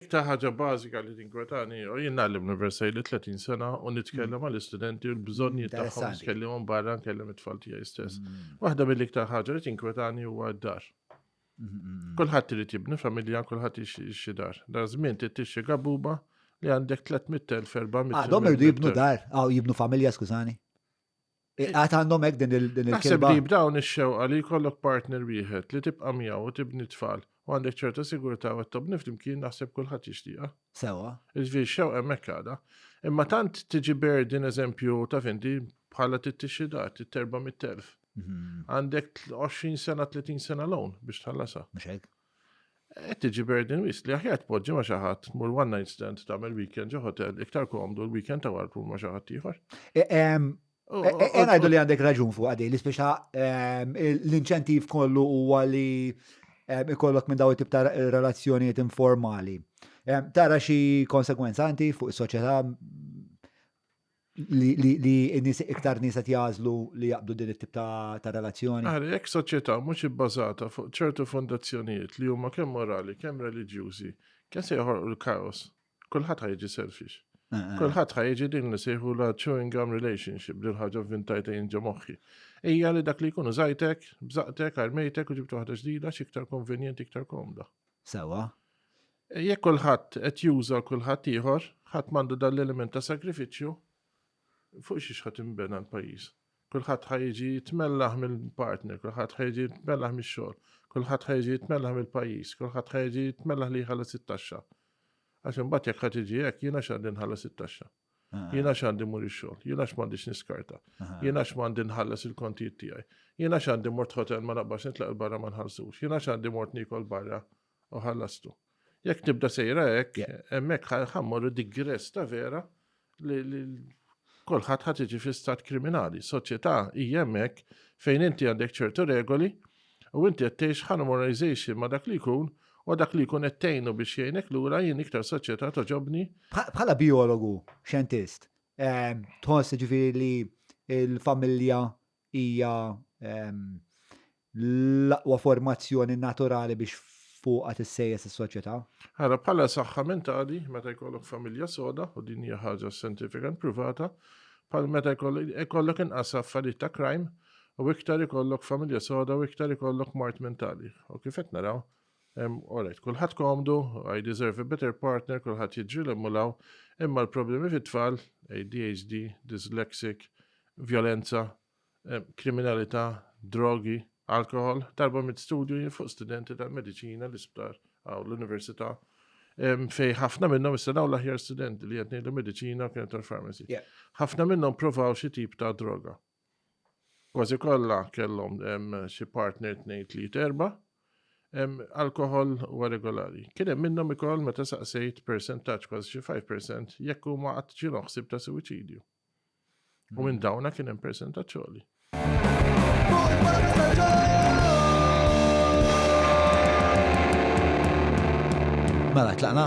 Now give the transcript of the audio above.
Iktar ħaġa bażika li tinkwetani, u jien nagħlem l-Universal li 30 sena u nitkellem għal istudenti u l-bżonni tagħhom tkellimhom barra nkellem it-tfal tiegħi stess. Mm. Waħda mill-iktar ħaġa li tinkwetani huwa d-dar. Mm-hmm. Kulħadd irid jibni familja, kulħadd ixi dar. Dar żmien tixxi gabuba li għandek 300.000 400. Għadhom irdu jibnu dar, għaw jibnu familja skużani. Għat għandhom hekk din il-kelma. Naħseb li b'dawn ix-xewqa li jkollok partner wieħed li tibqa' miegħu u tibni tfal u għandek ċerta sigurtà u tobni flimkien naħseb kulħadd jixtieqha. Sewa. Iġviri xewqa hemmhekk għadha. Imma tant tiġi berdin eżempju ta' findi bħala tittixxidat, it-terba mit-telf. Mhm. Għandek 20 sena, 30 sena l-own biex tħallasa. Mxek. Qed tiġi burden wis li aħjar tpoġġi ma' xi ħadd tmur one night stand tagħmel weekend ġo hotel iktar komdu l-weekend ta' wara tmur ma' xi ħadd ieħor. E, ehm, oh, e, oh, e, ngħidu li għandek raġun fuq għadej li speċa ehm, l-inċentiv kollu huwa li ehm, ikollok minn daw it-tip ta' relazzjonijiet informali. Tara xi konsekwenza anti fuq is-soċjetà li n-nies iktar nies qed jażlu li jaqbdu din it-tip ta' relazzjoni. Ara, jekk soċjetà mhux ibbażata fuq ċertu fondazzjonijiet li huma kemm morali, kemm reliġjużi, kemm se joħolqu l-kaos, kulħadd ħajġi selfish. Eh, eh. Kulħadd ħajġi din li sejħu la chewing gum relationship, din ħaġa vintajta jinġa moħħi. Ejja li dak li jkunu zajtek, bżaqtek, armejtek u ġibtu waħda ġdida x'iktar konvenjenti, iktar komda. Sewwa. Jekk kulħadd qed juża l-kulħadd ieħor, ħadd m'għandu dan l-element ta' sagrifiċċju, fuq xiex ħa tinbena l-pajjiż? Kulħadd ħa jiġi jitmellaħ mill-partner, kulħadd ħa jiġi jitmellaħ mix-xogħol, kulħadd ħa jiġi jitmellaħ mill-pajjiż, kulħadd ħa jiġi jitmellaħ li jħallas it-taxxa. Għax imbagħad jekk ħa tiġi hekk jiena x'għandi nħallas it-taxxa. Jien għax għandi mur ix-xogħol, jien għax m'għandix niskarta, jien għax m'għandi nħallas il-kontijiet tiegħi, jien għax għandi mort ħotel ma naqbax nitlaq il-barra ma nħallsux, jien għax għandi mort nikol barra u ħallastu. Jekk tibda sejra hekk, hemmhekk ħammorru digress ta' vera li kolħat ħad iġi fi stat kriminali. Soċjetà hija hemmhekk fejn inti għandek ċertu regoli u inti qed tgħix harmonization ma' dak li jkun u dak li jkun qed tgħinu biex jgħinek lura jien iktar soċjetà togħġobni. Bħala bijologu, xjentist, tħoss ġifieri li l-familja hija l-aqwa formazzjoni naturali biex fuqha tissejjes is-soċjetà? Ara bħala saħħa mentali meta jkollok familja soda u din hija ħaġa scientific and privata, bħal meta jkollok inqas affarijiet ta' crime, u iktar ikollok familja soda u iktar ikollok mart mentali. U kif qed naraw, Alright, kulħadd komdu, I deserve a better partner, kulħadd jiġri l mulaw, imma l-problemi fit-tfal, ADHD, dyslexic, violenza, kriminalità, drogi, alkohol, darba mit studju fuq studenti tal-medicina, l-isptar, għaw l-università, fej ħafna minnhom issa dawn l-aħjar studenti li qed ngħidu mediċina kienet tal-pharmacy. Ħafna minnhom provaw xi tip ta' droga. Kważi kollha kellhom xi partner tnejn tliet erba' alkohol huwa regolari. Kien hemm minnhom ikoll meta saqsejt persentaġġ kważi xi 5% jekk huma qatt ġielhom ħsieb ta' suwiċidju. U minn dawna kien hemm persentaġġ għoli. Mela tlaqna?